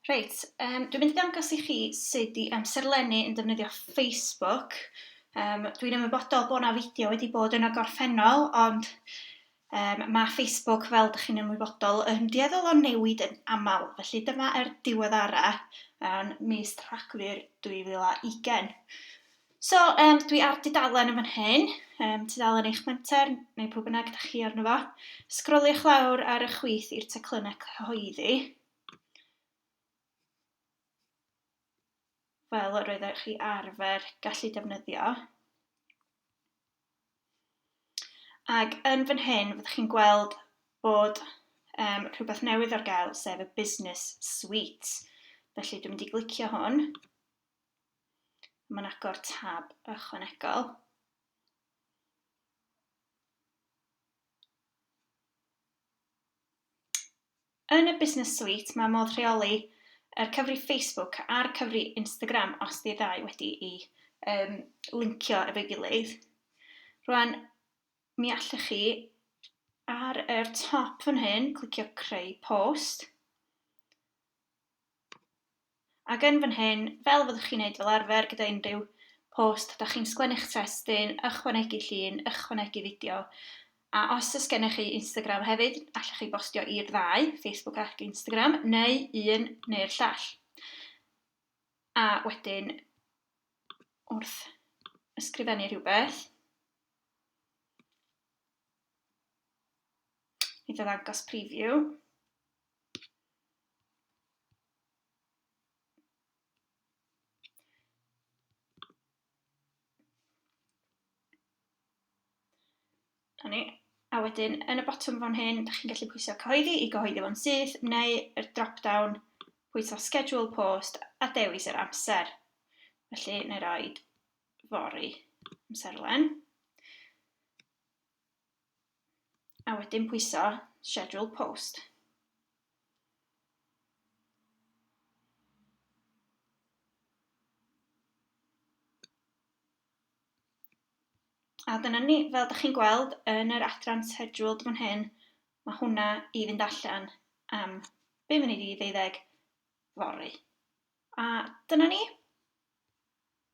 Reit, um, dwi'n mynd i dangos i chi sut i amserlennu yn defnyddio Facebook. Um, dwi'n ymwybodol bod yna fideo wedi bod yn y gorffennol, ond um, mae Facebook, fel ydych chi'n ymwybodol, yn dueddol o newid yn aml. Felly dyma er diweddara um, mis Rhagfyr 2020. So, um, dwi ar dudalen yn fan hyn, um, tudalen eich menter, neu pob yna gyda chi arno fo. Sgroliwch lawr ar y chwith i'r teclynnau cyhoeddi. fel yr oeddech chi arfer gallu defnyddio. Ac yn fan hyn, fyddwch chi'n gweld bod um, rhywbeth newydd ar gael, sef y Business Suite. Felly dwi'n mynd i glicio hwn. Mae'n agor tab ychwanegol. Yn y Business Suite mae modd rheoli yr cyfri Facebook a'r cyfri Instagram os di ddau wedi i um, lincio efo'i gilydd. Rwan, mi allwch chi ar yr top fan hyn clicio creu post. Ac yn fan hyn, fel fyddwch chi'n neud fel arfer gyda unrhyw post, dach chi'n sgwennu'ch testun, ychwanegu llun, ychwanegu fideo, a os oes gennych chi Instagram hefyd, allwch chi bostio i'r ddau, Facebook ac Instagram, neu un neu'r llall. A wedyn, wrth ysgrifennu rhywbeth, mi ddangos preview, A ni. A wedyn, yn y botwm fan hyn, da chi'n gallu pwysio cyhoeddi i gyhoeddi fo'n syth, neu yr drop-down, pwysio schedule post a dewis yr amser. Felly, neu roed fori amserlen. A wedyn pwyso schedule post. A dyna ni, fel da chi'n gweld yn yr adran scheduled fan hyn, mae hwnna i fynd allan am 5 munud i ddeuddeg fory. A dyna ni.